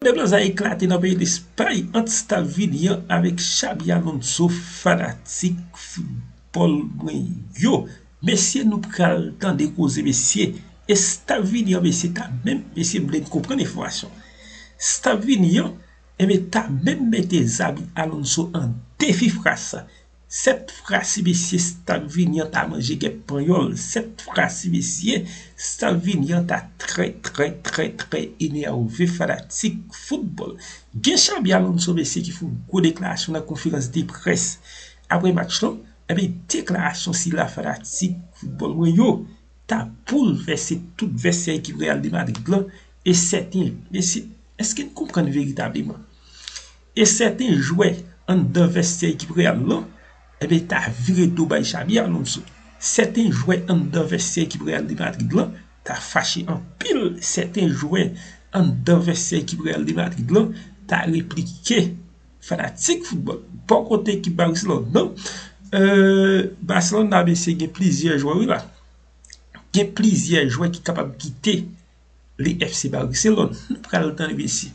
Eblan sa eklate nan peyi Lespay ant staf Vini an avèk Xabi Alonso fanatik foutbòl mwen yo mesye nou pral tande koze mesye e staf Vini an mesye ta menm mesye m vle n konprann enfòmasyon staf Vini an ebyen ta menm mete Xabi Alonso an defi fras. 7 fra si mesye Stalvini an ta manje gèp panyòl 7 fra si mesye Stalvini an ta trè trè trè trè enève fanatik foutbòl gen Xabi Alonso mesye ki fè yon gwo deklarasyon nan konferans de près aprè match lan ebyen deklarasyon sila fanatik foutbòl mwen yo ta boulvèse tout vèsyè ekip Real de Madrid lan e sèten mesye èske n konprann veritableman. E sèten jwè anndan Vèstiyè ekip Real lan, enben ta vire do bay Xabi Alonso. Sèten jwè anndan Vèstiyè ekip Real de Madrid lan ta fache anpil, sèten jwè anndan Vèstiyè ekip Real de Madrid lan ta replike fanatik foutbòl. Bò kote ekip Barcelone lan, Barcelona mesye gen plizyè jwè wi la. Gen plizyè jwè ki kapab kite. li FC Barcelone nou pral tande mesye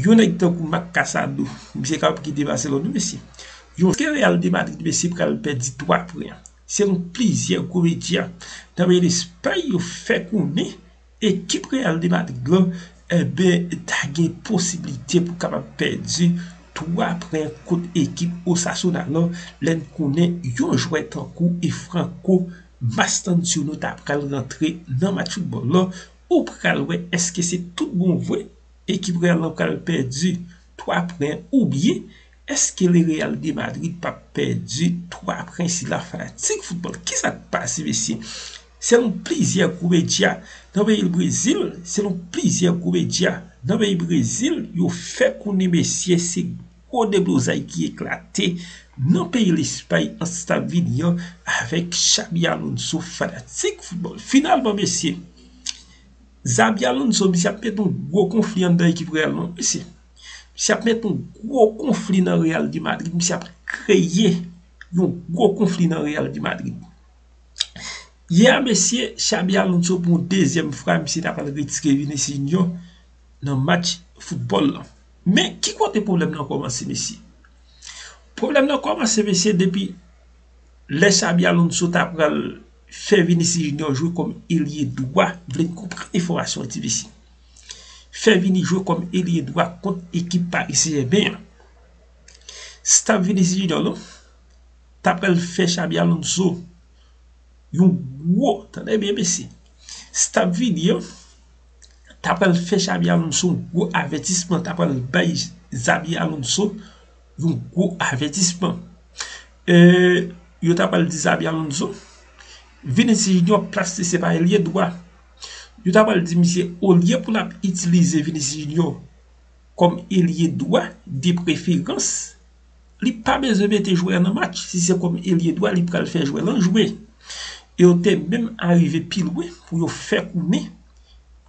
yon nèg tankou Marc Casado misye kapab kite Barcelone wi mesye yon ke Real de Madrid mesye pral pèdi 3 pwen selon plizyè gwo medya nan peyi Lespay yo fè konnen ekip Real de Madrid lan enben ta gen posiblite pou kapab pèdi 3 pwen kont ekip Osasuna lan lè n konnen yon jwè tankou Franco Mastantuono ta pral rantre nan match football lan ou pral wè eske se tout bon vre ekip real lan pral pèdi 3 pwen ou byen eske le real de madrid pap pèdi 3 pwen sila fanatik football kisa k pase mesye selon plizyè gwo medya nan peyi brezil selon plizyè gwo medya nan peyi brezil yo fè konnen mesye se Gwo deblozay ki eklate nan peyi Lespay ant staf Vini an avèk Xabi Alonso fanatik foutbòl. Finalman mesye, Xabi Alonso misye ap met yon gwo konfli anndan ekip Real non mesye. Misye ap met yon gwo konfli nan Real de Madrid, misye ap kreye yon gwo konfli nan Real de Madrid. Yè a mesye, Xabi Alonso pou yon dezyèm fra misye ta pral retire Vinicius Junior nan match foutbòl lan. Men ki kote pwoblèm nan kòmanse mesye? Pwoblèm nan kòmanse mesye depi lè Xabi Alonso ta pral fè Vinicius Junior jwe kòm elye dwa, vle n konprann enfòmasyon an ti mesye. Fè Vini jwe kòm elye dwa kont ekip Paris Saint Germain an. Staff Vinicius Junior lan ta pral fè Xabi Alonso yon gwo, tande byen mesye, staff Vini an. ta pral fè Xabi Alonso yon gwo avètisman, ta pral bay Xabi Alonso yon gwo avètisman. Yo ta pral di Xabi Alonso, Vinicius Junior plas li se pa elye dwa. Yo ta pral di misye olye pou l ap itilize Vinicius Junior kòm elye dwa de preferans, li pa bezwen mete jwè a nan match, si se kòm elye dwa li pral fè jwè lan jwe. E yo te menm arive pi lwen pou yo fè konnen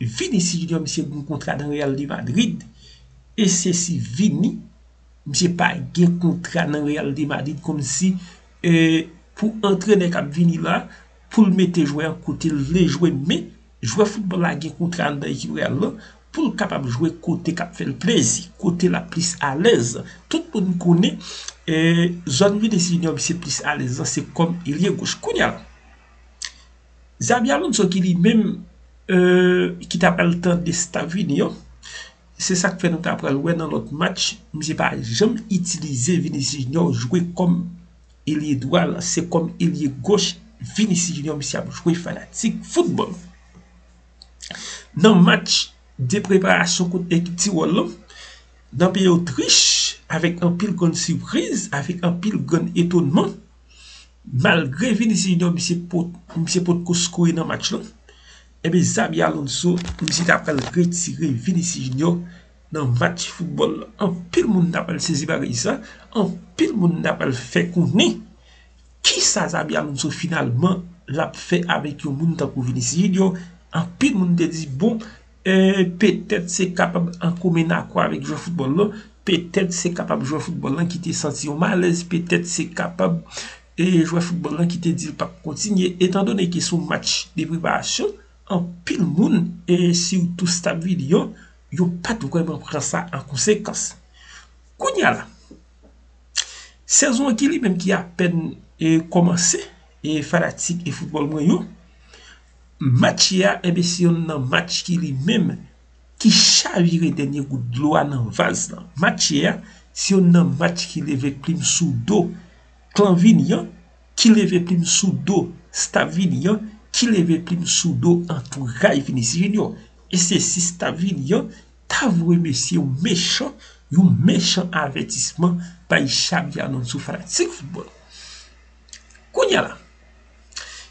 Vinicius Junior misye gen kontra nan Real de Madrid e se si Vini misye pa gen kontra nan Real de Madrid kòm si pou antrenè k ap vini la pou l mete jwè a kote l vle jwe men Jwè foutbòl la gen kontra anndan ekip Real lan pou l kapab jwe kote k ap fè l plezi, kote l ap plis alèz. Tout moun konnen zòn Vinicius Junior misye plis alèz lan se kòm ilye goch. Kounya la, Xabi Alonso ki li menm ki ta pral tande staf Vini yo, se sa k fè nou ta pral wè nan lòt match misye pa janm itilize Vinicius Junior jwe kòm elye dwa lan se kòm elye goch Vinicius Junior misye ap jwe fanatik foutbòl nan match de preparasyon kont ekip Tirol lan nan peyi Otrich avèk anpil grenn sipriz avèk anpil grenn etonman malgre Vinicius Junior misye potko skore nan match lan ebe Xabi Alonso misye ta pral retire Vinicius Junior Nan match foutbòl la, anpil moun ta pral sezi pa reyisa, anpil moun ta pral fè konnen kisa Xabi Alonso finalman l ap fè avèk yon moun tankou Vinicius Junior, anpil moun te di bon petèt se kapab an komen akò avèk jwè foutbòl lan, petèt se kapab jwè foutbòl lan ki te santi yon malèz, petèt se kapab jwè foutbòl lan ki te di l pa p kontinye, etan done ki sou match de preparasyon, anpil moun e sitou staf Vini an. yo pa t vrèman pran sa an konsekans. Kounye a la, sezon an ki li menm ki apèn kòmanse, e fanatik e foutbòl mwen yo, match yè a, enben se youn nan match ki li menm ki chavire dènye gout dlo a nan vaz lan. Match yè a, se youn nan match ki leve plim sou do klan Vini an. ki leve plim sou do staff vini an, ki leve plim sou do antouray Vinicius Junior e se si staff vini an ta vwe mesye yon mechan yon mechan avètisman bay Xabi Alonso fanatik foutbòl Kounye a la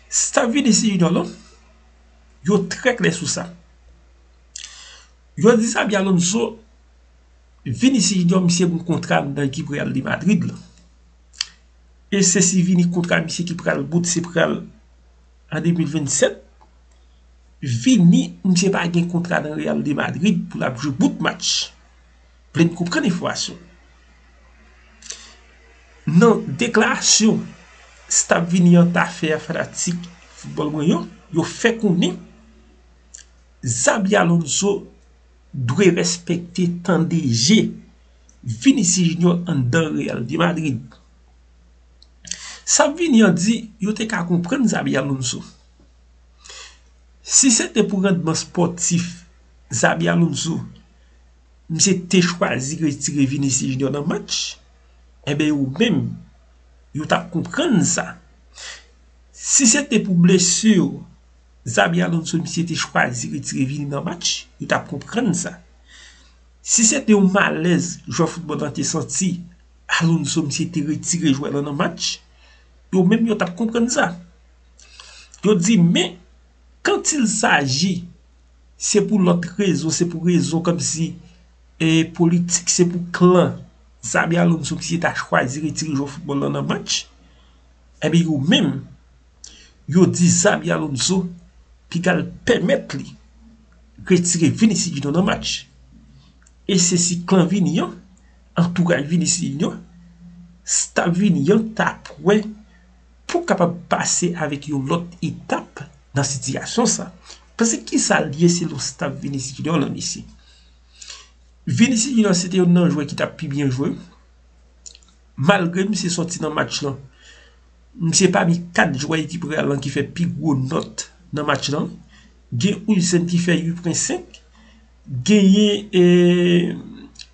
staff Vinicius Junior lan yo trè klè sou sa yo di Xabi Alonso Vinicius Junior misye gen yon kontra nan ekip Real de Madrid lan e se si vini kontra misye ki pral bout se pral an 2027 vini misye pa gen kontra nan real de Madrid pou lap jwe bout match vlem konprann enfòmasyon nan deklarasyon staff vini an ta fè a fanatik foutbòl mwen yo yo fè konnen Xabi Alonso dwe respekte tande je Vinicius Junior anndan Real de Madrid. Sa Vini an di yo te ka konprann Xabi Alonso. Si se te pou randman spòtif Xabi Alonso misye te chwazi retire Vinicius Junior nan match, enben yo menm yo t ap konprann sa. Si se te pou blesur. Xabi Alonso misye te chwazi retire vini nan match yo tap konprann sa si se te yon malèz jwè foutbòl lan te santi Alonso misye te retire jwè lan nan match yo menm yo tap konprann sa yo di men kant il saji se pou lòt rezon se pou rezon kòm si e politik se pou klan Xabi Alonso misye ta chwazi retire jwè foutbòl lan nan match epi yo menm. yo di Xabi Alonso pigal pèmèt li retire Vinisi Junior nan match e se si klan Vini an antouraj Vinisi Junior staff Vini an ta pwè pou kapab pase avèk yon lòt etap nan sitiyasyon sa pase kisa l ye se lon staff Vinisi Junior lan mesye Vinisi Junior se te yon nan jwè ki ta pi byen jwe. Malgre misye sòti nan match lan, misye pami 4 jwè ekip Real lan ki fè pi gwo nòt nan match lan. Gen Huijsen ki fè 8.5, genyen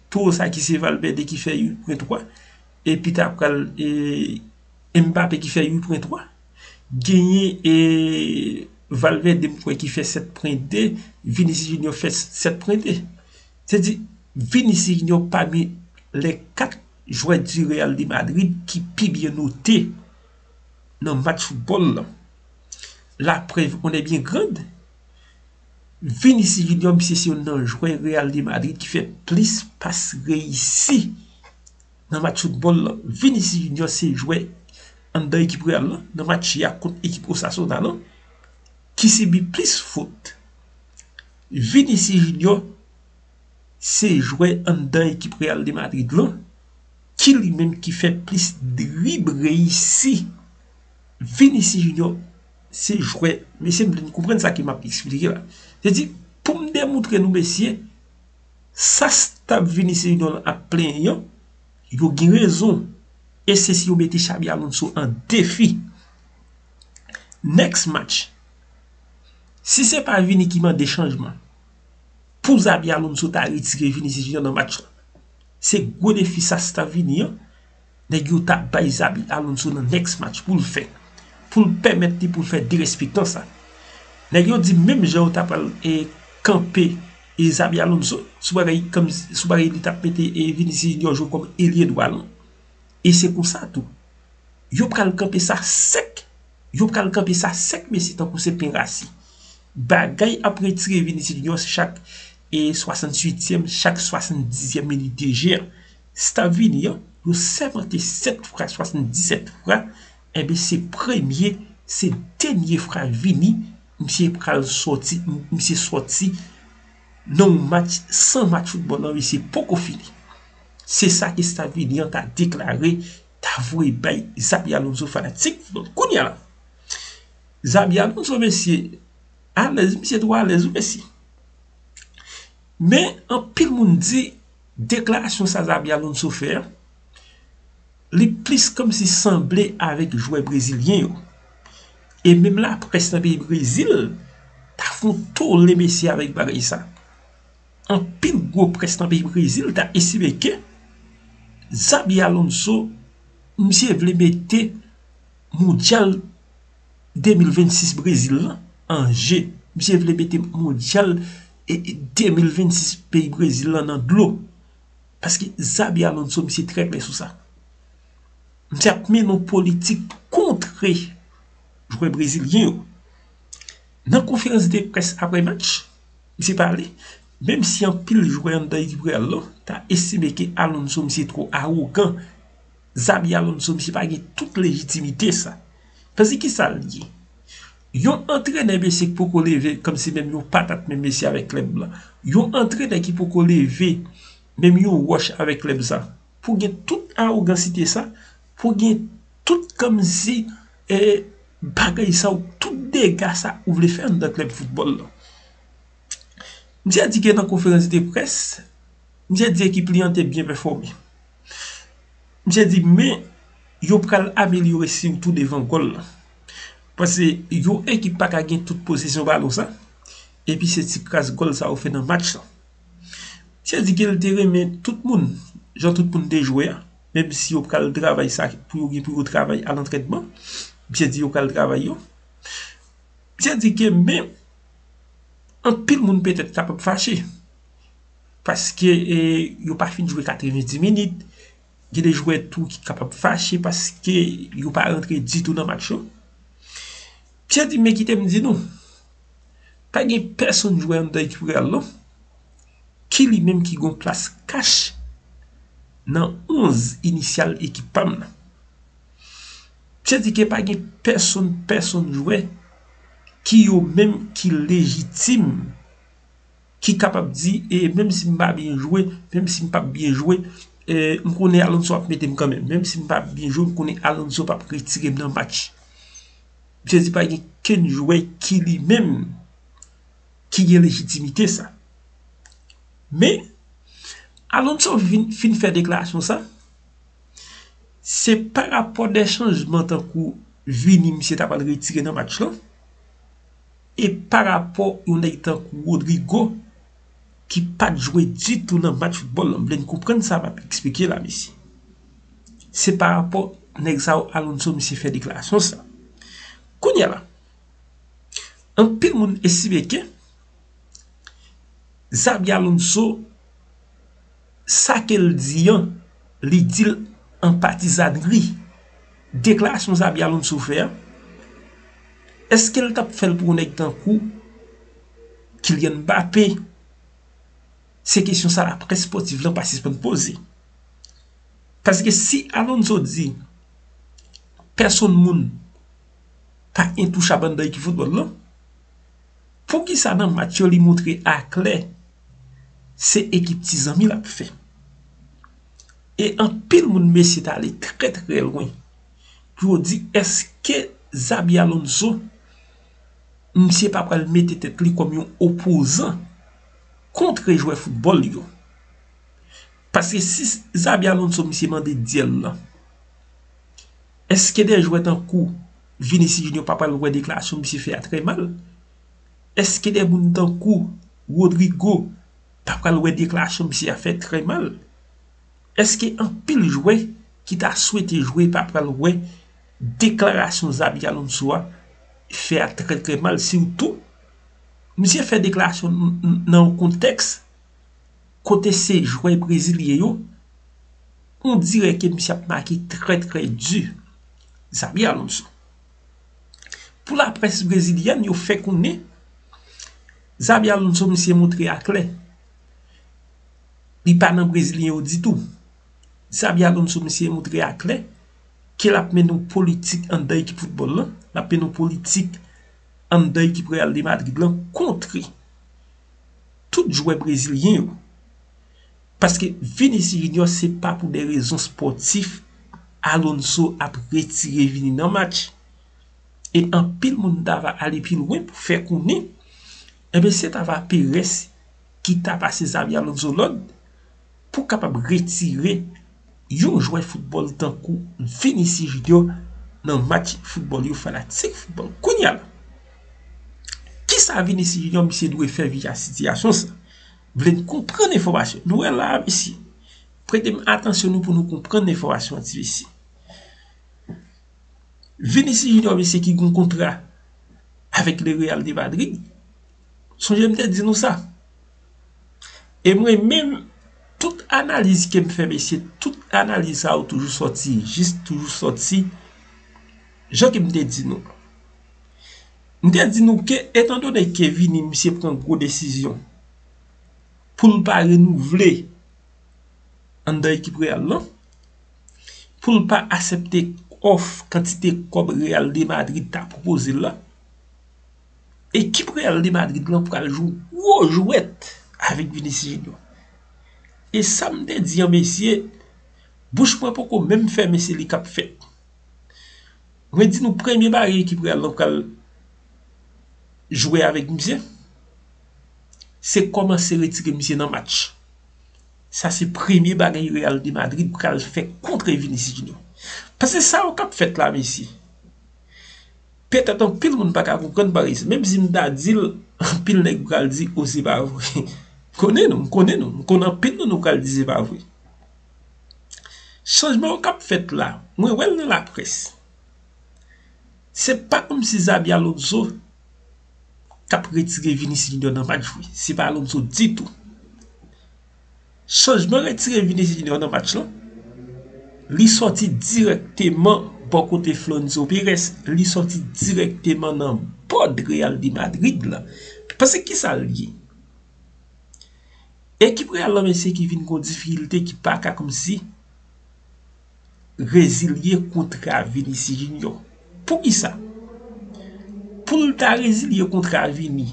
toro sa ki se Valverde ki fè 8.3, epi ta pral Mbappe ki fè 8.3. Genyen Valverde m kwè ki fè 7.2, Vinicius Junior fè 7.2. Se di Vinicius Junior pami lè 4. jwè di Real de Madrid ki pi byen note nan match foutbòl la. La prèv en est bien grande, Vinicius Junior misye se youn nan jwè Real de Madrid ki fè plis pas reyisi nan match foutbòl la. Vinicius Junior se jwè anndan ekip Real la nan match ya kont ekip Osasuna la ki sibi plis fot. Vinicius Junior. se jwè anndan ekip Real de Madrid lan ki li menm ki fè plis drib reyisi. Vinicius Junior se jwè, mesye m vle nou konprann sa ke map esplike la. Se di pou m demoutre nou mesye sa staff Vinicius Junior lan ap plenyen an, yo gen rezon e se si yo mete Xabi Alonso an defi. Next match, si se pa Vini ki mande chanjman. Pou Xabi Alonso ta retire Vinicius Junior nan match la. Se gwo defi sa si ta vini an. Nèg yo ta bay Xabi Alonso nan next match pou l fè. Pou l pèmèt li pou l fè derespektan sa. Nèg yo di menm jan yo ta pral e kanpe e Xabi Alonso sou bagay kom sou bagay li tap mete e Vinicius Junior jwe kom elye dwa lan. E se konsa tou. Yo pral kanpe sa sèk. Yo pral kanpe sa sèk mesye tankou se pen rasi. Bagay ap retire Vinicius Junior chak 68 tièm, chak 70 tièm minit de jeu an. Staff Vini an, yo sèmante 7 fra, 77 fra, enben se premye, se dènye fra Vini, misye pral sòti, misye sòti nan yon match, san match football lan misye poko fini. Se sa ke staff Vini an ta deklare, ta voye bay Xabi Alonso fanatik, kounye a la. Xabi Alonso mesye alèz misye two alèz wi mesye men anpil moun di deklarasyon sa Xabi Alonso fè an li plis kòmsi sanble avèk jwè brezilyen yo e menm laprès nan peyi brezil ta fon tole mesye avèk bagay sa anpil gwo près nan peyi brezil ta estime ke Xabi Alonso misye vle mete Mondyal 2026 Brezil lan an je. Misye vle mete Mondyal 2026 peyi Brezil lan nan dlo. Paske Xabi Alonso misye trè klè sou sa. Misye ap mennen yon politik kontre jwè Brezilyen yo. Nan konferans de pres apre match, misye pale, menm si anpil jwè anndan ekip Real lan ta estime ke Alonso misye two awogan. Xabi Alonso misye pa gen tout lejitimite sa. Pase ki sa li ye? Yon antrenè mesye ki poko leve kom si menm yon patat menm mesye avèk klèb la. Yon antrenè ki poko leve menm yon wòch avèk klèb sa. Pou gen tout arogansite sa, pou gen tout kom si e bagay sa ou tout dega sa ou vle fè anndan klèb foutbòl la. Misye di ke nan konferans de près, misye di ekip li an te byen pèfome. Misye di men yo pral amelyore sitou devan gòl la. Pase yon ekip pa ka gen tout posesyon balon sa. Epi se ti kras gòl sa yo fè nan match lan. Misye di ke li te renmen tout moun, jan tout moun te jwe a. Menm si yo pral travay sa pou yo gen pou yo travay a lantrenman. Misye di yo pral travay yo. Misye di ke men anpil moun petèt kapab fache. paske yo pa fin jwe 90 minit gen de jwè tou ki kapab fache paske yo pa rantre ditou nan match yo mesye di men kite m di nou pa gen pèsonn jwè anndan ekip real non ki li menm ki gon plas kach nan 11 inisyal ekip pa m nan mesye di ke pa gen pèsonn pèsonn jwè ki yo menm ki lejitim ki kapab di e menm si m pa byen jwe, menm si m pap byen jwe, m konnen Alonso ap mete m kanmenm. Menm si m pa byen jwe, m konnen Alonso pap retire m nan match. Misye di pa gen kenn jwè ki li menm ki gen lejitimite sa. Men, Alonso vin fin fè deklarasyon sa, se pa rapò de chanjman tankou vini misye ta pral retire nan match lan. E pa rapò yon nèg tankou Rodrygo ki pa t jwe ditou nan match foutbòl la, m vle n konprann sa m ap esplike la mesye. Se pa rapò nèg sa yo Alonso misye fè deklarasyon sa. Kounye a la, anpil moun estime ke Xabi Alonso sa ke l di an, li di l an patizànri. Deklarasyon Zabi Alonso fè an, èske l t ap fè l pou yon nèg tankou Kylian Mbappé? Se kesyon sa laprès espòtif lan pa sispann poze. Paske si Alonso di, pèsonn moun pa entouchabl anndan ekip foutbòl lan, Poukisa nan match yo li moutre aklè se ekip ti zanmi l ap fè? E anpil moun mesye ta ale trè trè lwen pou yo di eske Xabi Alonso misye pa pral mete tèt li kòm yon opozan kontre jwè foutbòl yo? Paske si Xabi Alonso misye mande dyèl lan. Eske de jwè tankou Vinicius Junior pa pral wè deklarasyon misye fè a trè mal? Eske de moun tankou Rodrygo pa pral wè deklarasyon misye a fè trè mal? Eske anpil jwè ki ta swete jwe pa pral wè deklarasyon Xabi Alonso a fè a trè trè mal sitou misye fè deklarasyon nan yon kontèks Kote se jwè brezilyen yo, on dirè ke misye ap make trè trè di, Xabi Alonso. Pou laprès brezilyèn yo fè konnen, Xabi Alonso misye montre a klè, li pa nan brezilyen yo ditou. Xabi Alonso misye montre a klè, ke l ap mennen yon politik anndan ekip foutbòl lan, l ap mennen yon politik anndan ekip Real de Madrid lan, kontre. tout jwè brezilyen yo. Paske Vinicius Junior se pa pou de rezon spòtif Alonso ap retire Vini nan match. E anpil moun ta va ale pi lwen pou fè konnen enben se ta va Perez ki ta pase Xabi Alonso lòd Pou w kapab retire yon jwè foutbòl tankou Vinicius Junior nan match foutbòl yo fanatik foutbòl kounya la kisa Vinicius Junior misye dwe fè vis a sitiyasyon sa vle n konprann enfòmasyon nou wè la a mesye prete m atansyon nou pou nou konprann enfòmasyon an ti mesye Vinicius Junior mesye ki gen kontra avèk le Real de Madrid sonje m te di nou sa. E mwen menm tout analiz ke m fè mesye tout analiz sa yo toujou sòti jis toujou sòti jan ke m te di nou. M te di nou ke etan done ke vini misye pran gwo desizyon pou l pa renouvle anndan ekip Real lan, pou l pa asepte òf kantite kòb Real de Madrid ta pwopoze l lan. Ekip Real de Madrid lan pral jwe gwo jwèt avèk Vinicius Junior. E sa m te di an mesye, bouch mwen poko menm fèmen se li k ap fèt. Mwen di nou premye bagay ekip Real lan pral jwe avèk misye, se kòmanse retire misye nan match. Sa se premye bagay Real de Madrid pral fè kontre Vinicius Junior. Pase sa yo k ap fèt la mesye. Petèt anpil moun pa ka konprann parèy, menm si m ta di l, anpil nèg pral di, o se pa vre. M konnen nou, m konnen nou, m konnen anpil nan nou pral di se pa vre. Chanjman yo k ap fèt la, mwen wè l nan laprès. Se pa kòm si Xabi Alonso t ap retire Vinicius Junior nan match vre. Se pa Alonso ditou. Chanjman retire Vinicius Junior nan match lan, li sòti direkteman bò kote Flonzo Perez, li sòti direkteman nan bòd Real de Madrid la. Pase ki sa li ye? Ekip Real lan mesye ki vin kon difikilte ki pa ka kòmsi rezilye kontra Vinicius Junior. Pou ki sa? Pou l ta rezilye kontra Vini,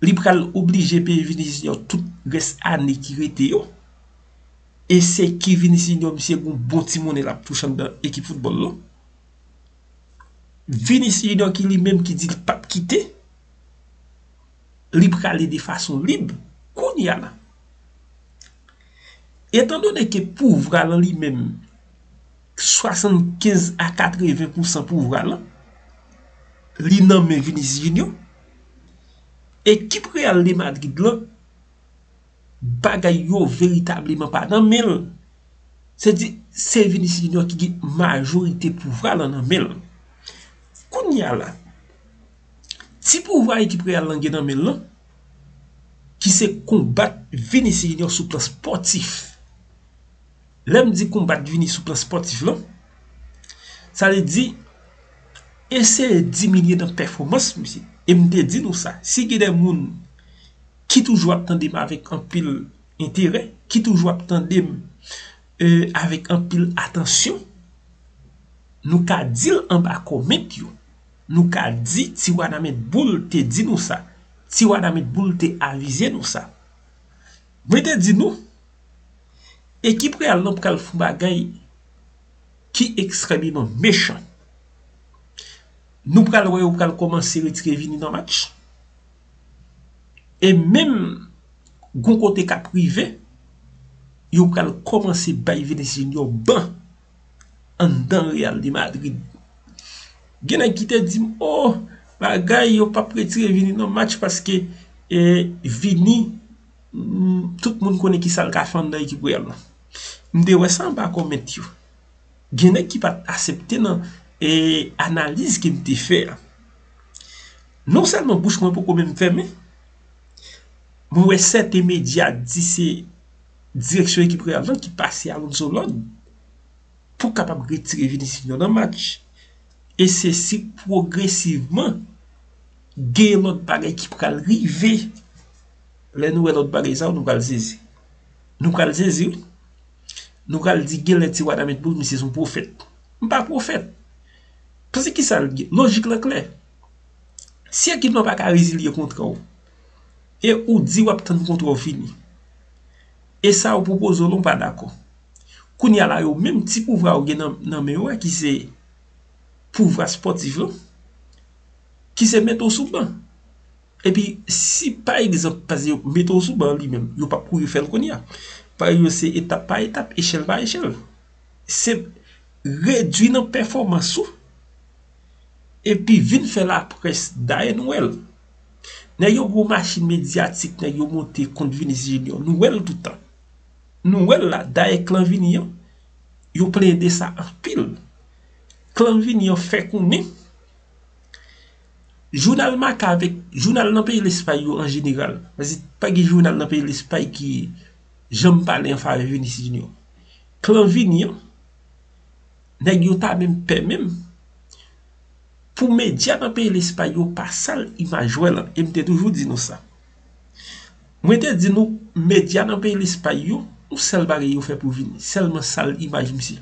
li pral oblije peye Vinicius Junior tout rès ane ki rete yo e se ki Vinicius Junior misye gen yon bon ti monnen l ap touche anndan ekip foutbòl lan Vinicius Junior ki li menm ki di l pap kite li prale de fason lib kounye a la etan done ke pouvwa l an li menm 75 a 80 pousan pouvwa lan li nan men Vinicius Junior ekip Real de Madrid lan bagay yo veritableman pa nan menl se di se Vinicius Junior ki gen majorite pouvwa lan nan menl kounya la ti pouvwa ekip Real lan gen nan menl lan ki se konbat Vinicius Junior sou plan spòtif Lè m di konbat vini sou plan spòtif lan, sa vle di eseye diminye nan pèfomans misye. E m te di nou sa, si gen de moun ki toujou ap tande m avèk anpil enterè, ki toujou ap tande m avèk anpil atansyon, nou ka di l anba kòment yo, nou ka di ti Wanament Boul te di nou sa, ti Wanament Boul te avize nou sa. Mwen te di nou, ekip Real lan pral fon bagay ki ekstrèmeman mechan. Nou pral wè yo pral kòmanse retire Vini nan match. E menm gon kote k ap rive, yo pral kòmanse bay Vinicius Junior ban. anndan Real de Madrid. Gen nèg ki te di m, oh bagay yo pap retire Vini nan match paske Vini tout moun konnen kisa l ka fè anndan ekip Real la. M te wè sa anba kòment yo. Gen nèg ki pat asepte nan analiz ke m te fè a. Non sèlman bouch mwen poko menm fèmen, mwen wè sèten medya di se direksyon ekip Real lan ki pase Alonso lòd pou kapab retire Vinicius Junior nan match e se si pwogresivman gen lòt bagay ki pral rive lè nou wè lòt bagay sa yo nou pral sezi nou pral sezi wi nou pral di gen lè ti wada met boul misye son pwofèt m pa pwofèt pase ki sa lojik lan klè si ekip lan pa ka rezilye kontra w. E ou di wap tann kontra w fini. E sa yo pwopoze w la ou pa dakò. Kounye a la yo menm ti pouvwa yo gen nan men yo a ki se pouvwa spòtif lan, ki se mete w sou ban. E pi si pa egzanp pase yo mete w sou ban li menm, yo pap kouri fè l kounye a. Pari yo se etap pa etap, echèl pa echèl. Se redwi nan pèfòmans ou e pi vin fè laprès dayè nou wè l. Nèg yo gwo machin medyatik nèg yo monte kont Vinis Junior nou wè l tout tan nou wè l la dayè klan Vini an yo plede sa anpil klan Vini an fè konnen jounal Marca avèk jounal nan peyi Lespay yo an jeneral paske pa gen jounal nan peyi Lespay ki janm pale an favè Vinis Junior klan Vini an Nèg yo ta menm pè menm pou medya nan peyi Lespay yo pa sal imaj jwè lan. E m te toujou di nou sa. Mwen te di nou medya nan peyi Lespay yo, yon sèl bagay yo fè pou vini, sèlman sal imaj misye.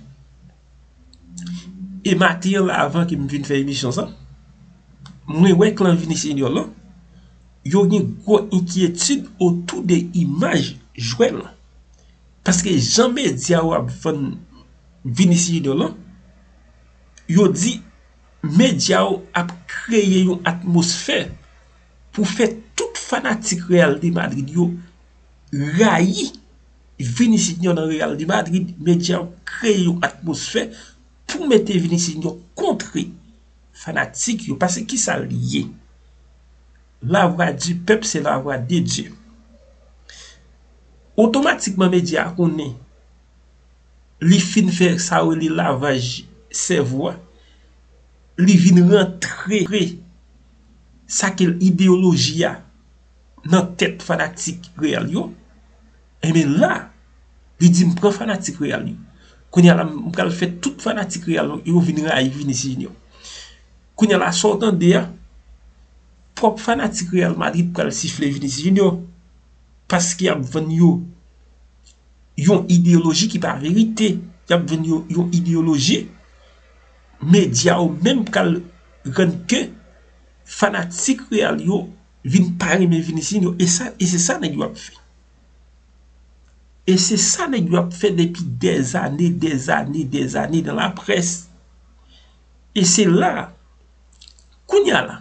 E maten an la avan ke m vin fè emisyon sa, mwen wè klan Vini Senyò lan, yo gen gwo enkyetid otou de imaj jwè lan. Paske jan media yo ap vann Vinicius Junior lan, yo di media yo ap kreye yon atmosfè pou fè tout fanatik Real de Madrid yo rayi Vinicius Junior nan Real de Madrid, media yo kreye yon atmosfè pou mete Vinicius Junior kontre fanatik yo, paske ki sa li ye? La vwa di pèp se la vwa de Dye. otomatikman medya a konnen li fin fè sa yo rele lavaj sèvo a, li vin rantre sa ki rele ideyoloji a nan tèt fanatik Real yo, enbe la, li di m pran fanatik Real yo. Kounye a la, m pral fè tout fanatik Real yo vin rayi Vinicius Junior. Kounye a la, sa w tande a, twòp fanatik Real Madrid pral sifle Vinicius Junior. Paske y ap vann yo yon ideyoloji ki pa verite. Y ap vann yo yon ideyoloji. Medya yo menm pral rann ke fanatik Real yo vin pa renmen Vinicius yo. E sa, e se sa nèg yo ap fè. E se sa nèg yo ap fè depi dèzane, dèzane, dèzane nan laprès. E se la, kounye a la.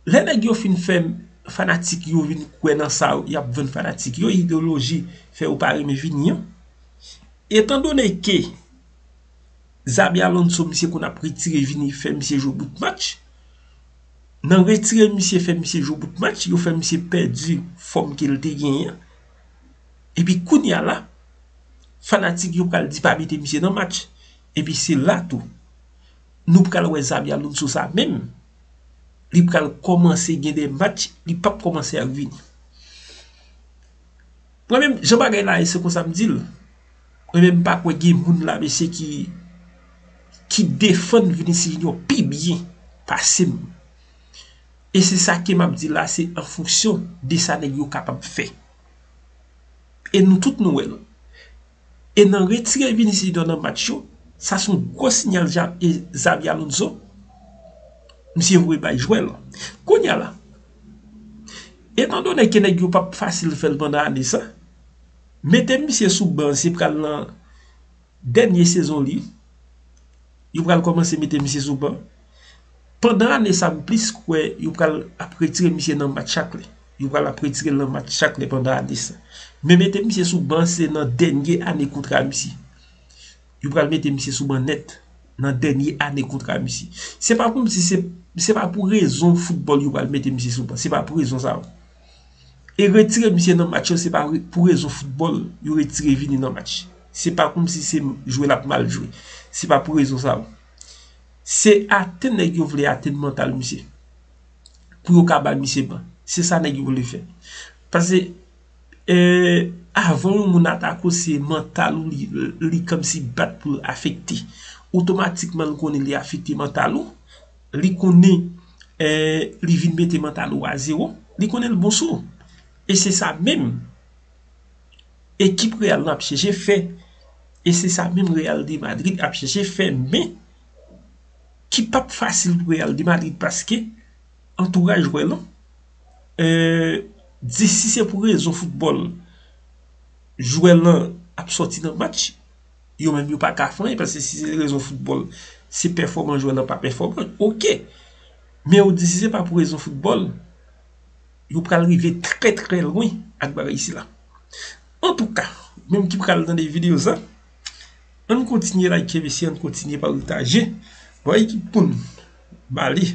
Lè nèg yo fin fè fanatik yo vin kwè nan sa yo, y ap vann fanatik yo ideyoloji fè yo pa renmen vini an. Etan done ke Xabi Alonso misye konn ap retire vini fè misye jwe bout match, nan retire misye fè misye jwe bout match, yo fè misye pèdi fòm ke l te genyen an. Epi kounye a la, fanatik yo pral di pa mete misye nan match. Epi se la tou. Nou pral wè Xabi Alonso sa menm, li pral kòmanse gen de match li pap kòmanse ak Vini. Mwen menm jan bagay la ye se konsa m di l, mwen menm m pa kwè gen moun la mesye ki ki defann Vinicius Junior pi byen pase m. E se sa ke m ap di la se an fonksyon de sa nèg yo kapab fè. E nou tout nou wè l. E nan retire Vinicius Junior nan match yo, sa son gwo sinyal Xabi Alonso misye voye bay jwè l. Kounye a la, etan done ke nèg yo pap fasil fè l pandan ane sa, mete misye sou ban se pral nan dènye sezon li, yo pral kòmanse mete misye sou ban. Pandan ane sa m plis kwè yo pral ap retire misye nan match chak lè. Yo pral ap retire l nan match chak lè pandan ane sa. Men mete misye sou ban se nan dènye ane kontra misye. Yo pral mete misye sou ban nèt nan dènye ane kontra misye. Se pa pou m di se, se pa pou rezon foutbòl yo pral mete misye sou ban. Se pa pou rezon sa yo. E retire misye nan match yo se pa pou rezon foutbòl yo retire Vini nan match. Se pa kou m si se jwe l ap mal jwe. Se pa pou rezon sa yo. Se atenn nèg yo vle atenn mantal misye. pou yo ka bay misye ban. Se sa nèg yo vle fè. Pase avan yon moun atake w se mantal ou li kòmsi bat pou l afekte. Otomatikman li konnen li afekte mantal ou. Li konnen li vin mete mantal ou a zewo. Li konnen li bon sou ou. E se sa menm ekip Real lan ap chèche fè. E se sa menm Real de Madrid ap chèche fè men ki pap fasil pou Real de Madrid paske antouraj jwè lan di si se pou rezon foutbòl jwè lan ap sòti nan match yo menm yo pa ka fè anyen paske si se rezon foutbòl se pèfòmans jwè lan pa pèfòman ok men yo di si se pa pou rezon foutbòl yo pral rive trè trè lwen ak bagay sila antouka menm ki pral tande videyo sa. Ann kontinye like mesye ann kontinye pataje. Bon ekip poun bali.